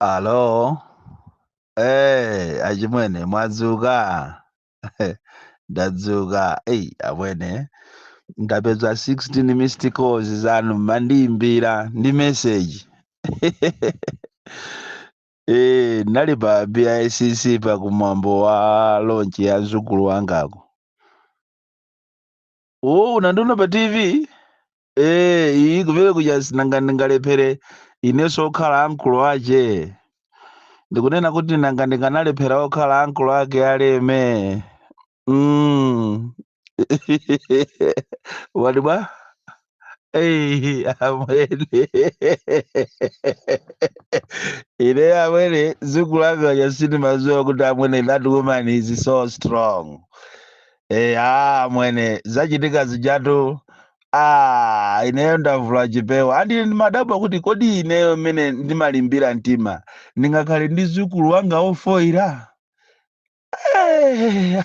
Alo, eh, achimwene mwadzuka? Ndadzuka. Ei, amwene ndapeza 16 missed calls zanu mmandiimbira ndi message. Eh, ndinali pa BICC pa kumwambo wa launch ya mzukulu wangako. Oh, unandiona pa TV? Eh, iyi kumene kuja sinanga ndingalephere inenso okhala ankulu ache ndikunena kuti nanga ndikanalephera okhala ankulu ake aleme mm. wati bwa Ei, amwene ine amwene mzukulu wanga uja sindimadziwa kuti amwene that woman is so strong Eh, amwene zachitika zijatu ah, ineyo ndavula chipewa and ine ndimadabwa kuti kodi ineyo mmene ndimalimbira mtima ndingakhale ndi mzukulu wanga ofoira Eh,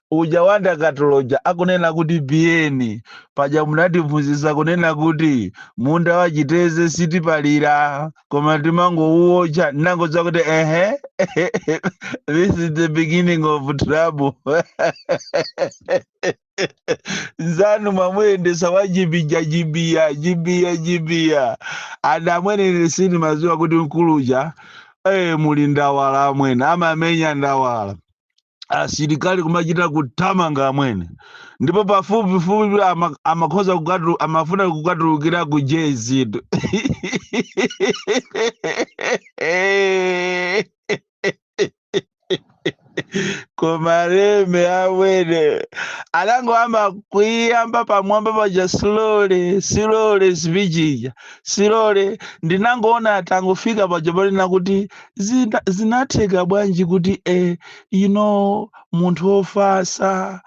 uja wa ndakatulo uja akunena kuti biyeni paja munatiphunzitsa kunena kuti munda wa chiteze sitipalira koma timangouwotcha ndinangodziwa kuti ehe this is the beginning of trouble nzanu mwamuyendesa wa jibiya jibiya jibiya jibiya and amwene ine sindimadziwa kuti mkuluja eh muli ndawala amwene amamenya ndawala asilikali kumachita kuthamanga amwene ndipo pafupifupi ama- amakhoza kukatu- amafuna kukatulukira ku jezito koma leme amwene anangoyamba kuyiyamba pamwamba paja slowly slowly speech ija slowly ndinangoona atangofika paja ponena kuti zina- zinatheka bwanji kuti eh, you know munthu wofasa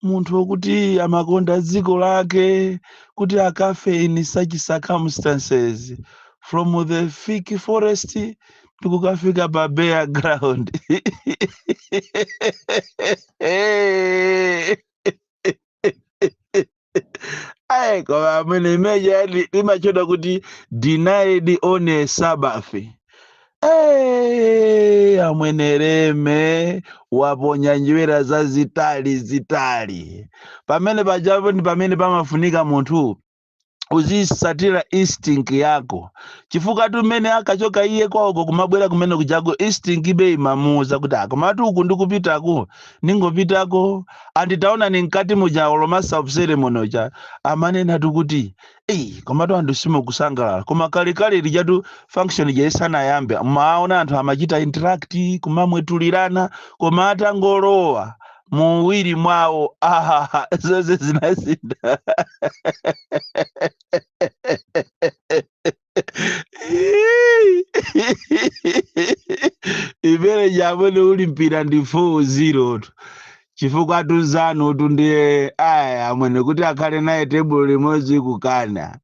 munthu wokuti amakonda dziko lake kuti akafe in such circumstances from the thick forest ndikukafika pa bare ground ayi koma amwene imene ija li- limatchedwa kuti denied on a sabbath Hey, amwene leme waponya njerwa zazitali zitali pamene pajapo ndi pamene pamafunika munthu uzisatira instinct yako chifukwatu mmene akachoka iye kwawoko kumabwera kumene kujako instinct ibe imamuuza kuti a komatu uku ndikupitaku ningopitako and taonani mkati muja olo master of ceremony uja amanena tu kuti eyi komatu anthu simukusangalala koma kalekale lijatu function ija isanayambe maona anthu amachita interact kumamwetulirana koma atangolowa muwiri mwawo ahaha zonse zinasintha imene ija amwene uli mpira ndi 4-0 tu chifukwatu nzanu tu ndiye aya amwene kuti akhale naye tebulo limodzi kukana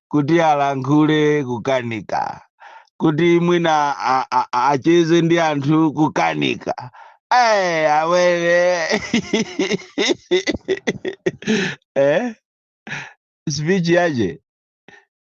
kuti alankhule kukanika kuti mwina a- a- a- acheze ndi anthu kukanika Eh, amwene eh? speech yake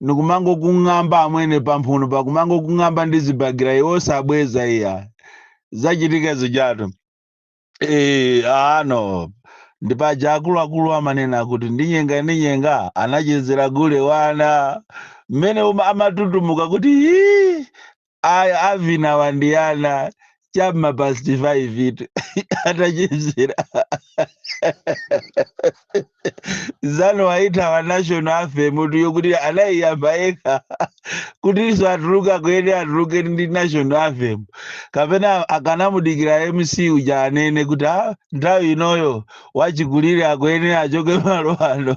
ndikumangokung'amba amwene pamphunopa kumangokung'amba ndi zibakera iwe osabweza iya zachitika zijatu Eh, ano ndi paja akuluakulu amanena kuti ndinyenga ndinyenga anachezera gule wa ana mmene uma- amatutumuka kuti "Hii, aya avinawa ndi ana cha m'ma past 5 itu atachezera nzanu waithawa national anthem kuti yokuti anaiyamba yekha kutinso atuluka akuyenera atuluke ndi national anthem kapena akanamudikira mc uja anene kuti "Ah, nthawi inoyo wachikulire akuyenera achoke malo ano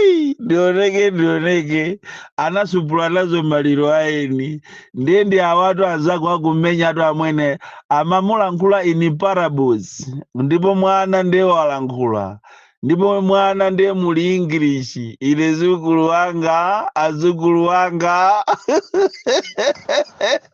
Ei, ndioneke ndioneke anasupula nazo maliro aeni ndiye ndi awatu anzako akumenyatu amwene amamulankhula in parables ndipo mwana ndiye walankhula ndipo mwana ndiye muli english ine mdzukulu wanga azukulu wanga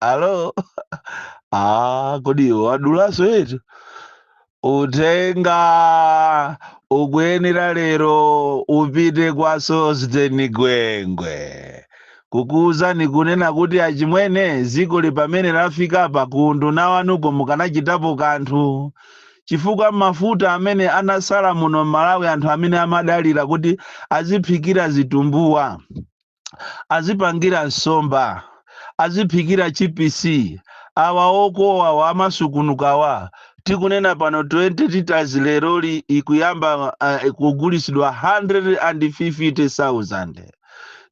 alo ah, kodi iwe wadulanso eetu uthenga ukuyenera lero upite kwa Sosten Gwengwe kukuwuzani kunena kuti achimwene dzikoli pamene lafika pa kundu nawanuko mukanachitapo kanthu chifukwa mafuta amene anatsala muno m'malawi anthu amene amadalira kuti aziphikira zitumbuwa azipangira nsomba aziphikira chipisi awa okowawa amasukunukawa tikunena pano 20 liters leroli ikuyamba uh, kugulitsidwa 150,000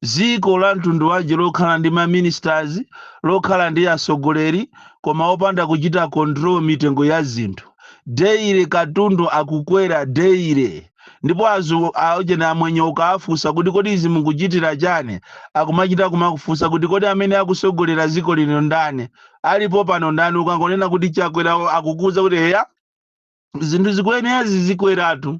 dziko la mtundu wanji lokhala ndi maministers lokhala ndi atsogoleri koma opanda kuchita control mitengo ya zinthu daily katundu akukwera daily ndipo aujeni amwenye ukaafunsa kuti kodi izi mukuchitira chani akumachita kumakufunsa kuti kodi amene akusogolera ziko lino ndani alipo pano ndani ukangonena kuti chakwera akukuza kuti eya zinthu zikuyenera zizikweratu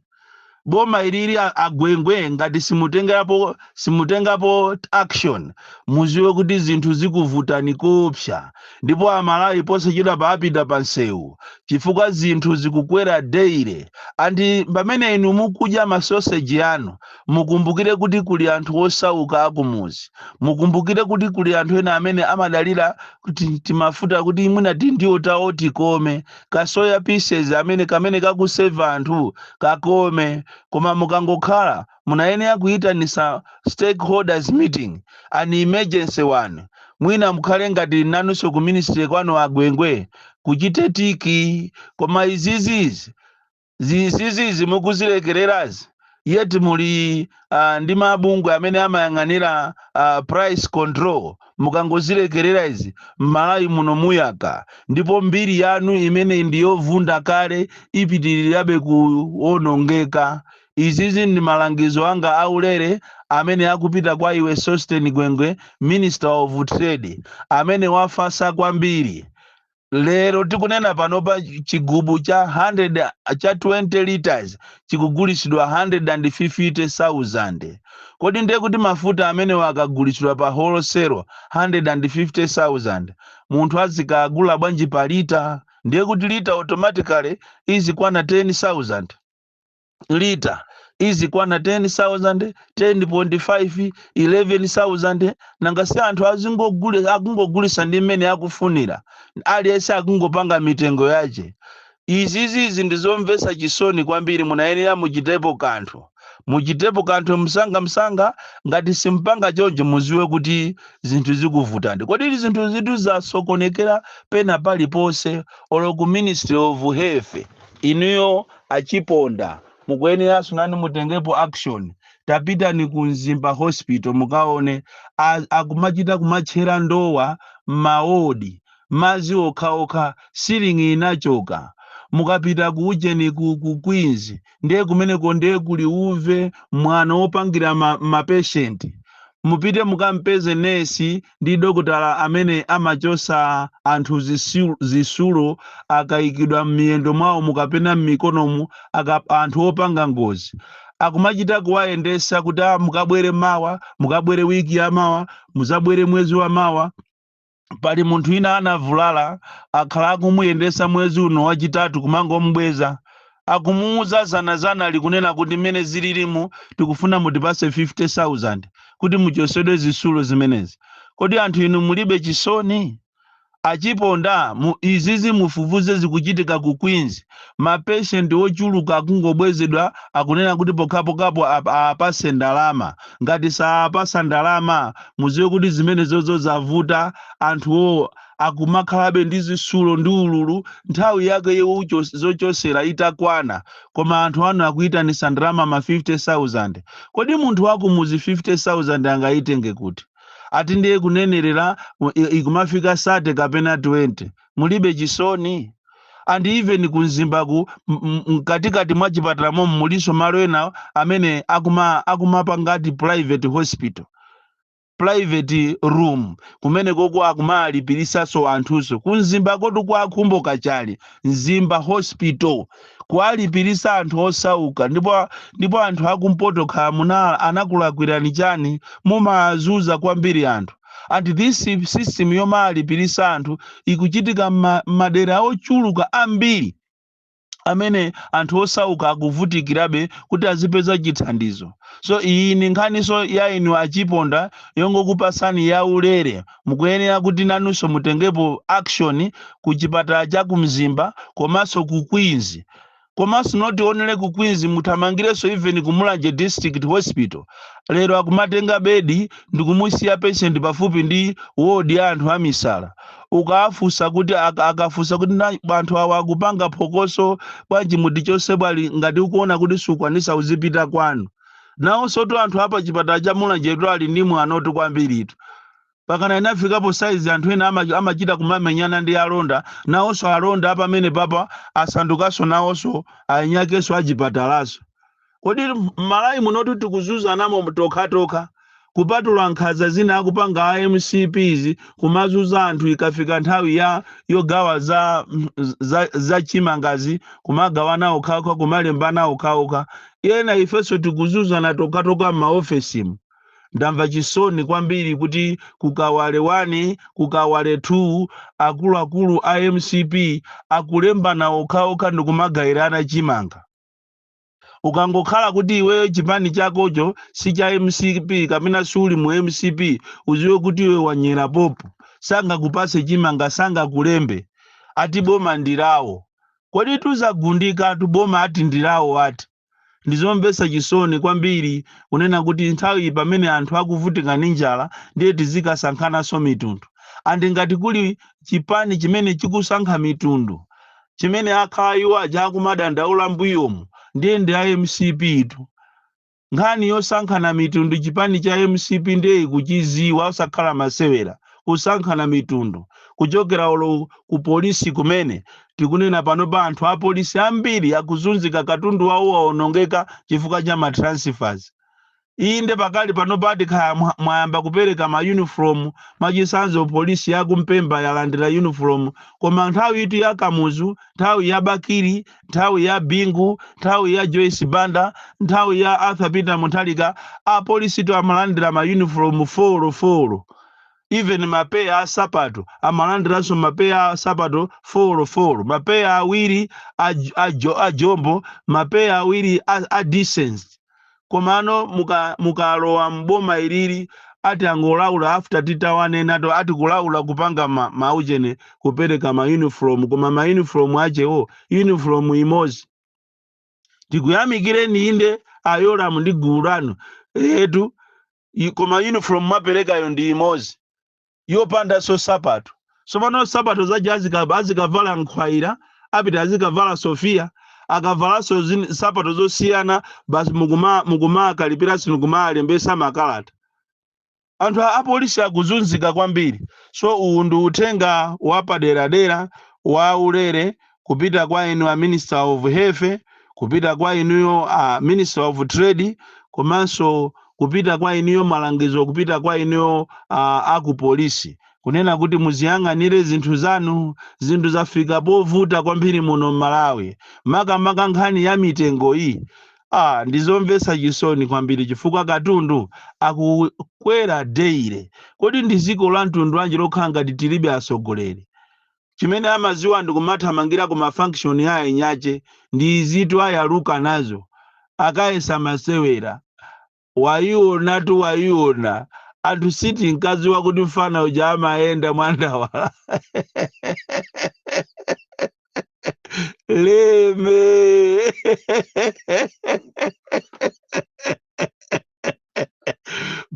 boma ilili a- agwengwe ngati simutengerapo simutengapo action muziwe kuti zinthu zikuvutani koopsa ndipo amalawi posachedwapa apita pansewu chifukwa zinthu zikukwera daily and pamene inu mukudya masoseji anu mukumbukire kuti kuli anthu osauka akumuzi mukumbukire kuti kuli anthu ena amene amadalira kuti timafuta kuti mwina tindiwo tawo tikome kasoya pieces amene kamene kakuseva anthu kakome koma mukangokhala munayenera kuyitanisa stakeholders meeting, an emergency one, mwina mukhale ngati nanuso ku ministry kwanu a Gwengwe kuchite tiki koma izizi izizi mukuzilekelerazi yet muli uh, ndi mabungwe amene amayang'anira uh, price control mukangozilekelera izi mMalawi muno muyaka ndipo mbiri yanu imene ndiyovunda kale ipitirirabe kuonongeka Izizi ndi malangizo anga a ulere amene akupita kwa iwe Sosten Gwengwe, Minister of Trade, amene wafasa kwambiri. Lero tikunena panopa chigubu cha 100 cha 20 litres chikugulitsidwa 150,000. Kodi ndiye kuti mafuta amenewa akagulitsidwa pa wholesale 150,000, munthu azikagula bwanji pa litre? Ndiye kuti litre automatically izikwana 10,000. lita izikwana 10,000 10.5 11,000 nanga si anthu azingogulisa akungogulisa ndi mmene akufunira aliyense akungopanga mitengo yache izizizi ndizomvetsa chisoni kwambiri munayenera muchitepo kanthu muchitepo kanthu msanga msanga ngati simupanga choncho muziwe kuti zinthu zikuvutani kodi zinthuzitu zasokonekera pena paliponse olo ku ministry of health inuyo Achiponda mukuyeneranso nanu mutengepo action tapitani ku mzimba hospital mukaone a akumachita kumatchera ndowa mma ward madzi okhaokha ceiling inachoka mukapita ku ujeni ku ku queens nde kumeneko nde kuli uve mwano opangira ma ma patient mupite mukampeze nurse ndi dokotala amene amachotsa anthu zisilu- zisulu akaikidwa m'miyendo mwaomu kapena m'mikonomu anthu opanga ngozi akumachita kuwayendesa kuti "Ah, mukabwere mawa mukabwere wiki ya mawa muzabwere mwezi wa mawa pali munthu ina anavulala akhala akumuyendesa mwezi uno wachitatu kumangomubweza akumuuza zanazana likunena kuti mmene zililimu tikufuna mutipase 50000 kuti muchosedwe zisulo zimenezi kodi anthu inu mulibe chisoni achiponda izizi mufufuze zikuchitika ku queens mapeshenti ochuluka akungobwezedwa akunena kuti pokhapokhapo ap- apase ndalama ngati saapasa ndalama muziwe kuti zimenezozo zavuta anthuwo akumakhalabe ndi zisulo ndi ululu nthawi yake yowucho- zochosera itakwana koma anthu anu akuyitanisa ndalama ma 50000 kodi munthu wakumuzi 50000 angayitenge kuti ati ndiye kunenerera u- i- ikumafika 30 kapena 20 mulibe chisoni and even kumzimbaku m- m- mkatikati mwa chipatala momo mulinso malo ena amene akuma akumapanga ati private hospital private room kumene koko akumawalipirisaso anthuso kumzimba kotu kwa akhumbo kachali mzimba hospital kuwalipirisa anthu osauka ndipo ndipo anthu akumpoto kaya munala anakulakwirani chani mumawazuza kwambiri anthu and this system yomawalipirisa anthu ikuchitika mma- mmadera ochuluka ambiri amene anthu osauka akuvutikirabe kuti azipeza chithandizo so iyi ni nkhaniso ya inu achiponda yongokupasani ya ulere mukuyenera kuti nanunso mutengepo action ku chipatala cha ku mzimba komanso ku queens komanso not only ku queens muthamangirenso even ku mulanje district hospital lero akumatenga bedi ndikumusiya patient pafupi ndi ward ya anthu amisala ukawafunsa kuti aka- akafunsa kuti anthu awa akupanga phokoso bwanji mutichose bwanji ngati ukuona kuti sukwanisa uzipita kwanu nawonso tu anthu apa chipatala cha mulanjetu ali ndi mwano tu kwambiritu pakana inafikapo saizi anthu ena ama- amachita kumamenyana ndi alonda nawonso alonda apamenepapa asandukanso nawonso ainyakenso achipatalaso Kodi mmalawi munotu tikuzuzanamo tokhatokha kupatula nkhaza zina akupanga a mcp kumazuza anthu ikafika nthawi ya yogawa za za za chimangazi kumagawana okhaokha kumalembana okhaokha ena ifeso tikuzuzana tokhatokha mma ofesimu ndamva chisoni kwambiri kuti ku kawale 1 ku kawale 2 akuluakulu a mcp akulembana okhaokha ndikumagairana chimanga. ukangokhala kuti iweyo chipani chakocho si cha mcp kapena siuli mu mcp uziwe kuti iwe wanyera popo sangakupase chimanga sangakulembe ati boma ndirawo kodi tuzagundika tu boma ati ndirawo ati ndizomvesa chisoni kwambiri kunena kuti nthawi pamene anthu akuvutika ndi njala ndiye tizikasankhananso mitundu and ngati kuli chipani chimene chikusankha mitundu chimene akhala iwo aja akumadandaula mbuyomu ndiye ndi a mcp tu nkhani yosankhana mitundu chipani cha mcp ndiye ikuchidziwa osakhala masewera kusankhana mitundu kuchokera olo ku polisi kumene tikunena pano pa anthu apolisi ambiri akuzunzika katundu wawo waonongeka chifukwa cha matransfers Inde pakali panopa ati kaya mwayamba kupereka ma uniform mwachisanzo police yaku mpemba yalandira uniform koma nthawi itu ya kamuzu nthawi ya bakili nthawi ya bingu nthawi ya joyce banda nthawi ya arthur peter mutharika apolisi itu amalandira ma uniform folo folo even mapeya a sapato amalandiranso mapeya a sapato folo folo mapeya awiri a, a, jo- a jombo mapeya awiri a, a decent komano mu- mukalowa m'boma ilili ati angolaula after titawanenatu ati kulaula kupanga ma, maujeni kupereka ma uniform koma ma uniform achewo uniform imodzi tikuyamikireni inde ayoramu ndi gulu lanu eetu i- koma uniform mwaperekayo ndi imodzi yopandanso nsapato tsopano nsapato zaja azika- azikavala nkhwaira apita azikavala sofiya akavalanso zin- nsapato zosiyana basi mukuma- mukumakalipira isi nkumalembesa makalata anthu apolisi akuzunzika kwambiri so uwu ndi uthenga wapaderadera wa ulere kupita kwa inu a minister of health kupita kwa inuyo a minister of trade komanso kupita kwa inuyo malangizo kupita kwa inuyo a, a ku polisi kunena kuti muziyang'anire zinthu zanu zinthu zafika povuta kwambiri muno m'malawi makamaka nkhani ya mitengo iyi ah, ndizomvetsa chisoni kwambiri chifukwa katundu akukwera deire kodi ndi dziko la mtundu wanji lokhala ngati tilibe atsogoleri chimene amaziwa ndikumathamangira ku ma function a eni ache ndi izitu ayaluka nazo akayesa masewera wayionatu wayiona anthu sitinkaziwa kuti mfana uja amayenda mwandawala leme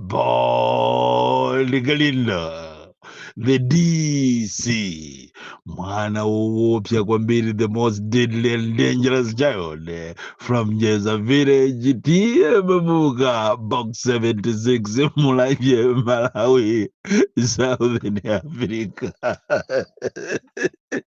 Paul Galindo, the DC, mwana woopsa kwambiri, the most deadly and dangerous child eh, from Jeza village, tiye babuka, box 76, Mulanje, Malawi, Southern Africa.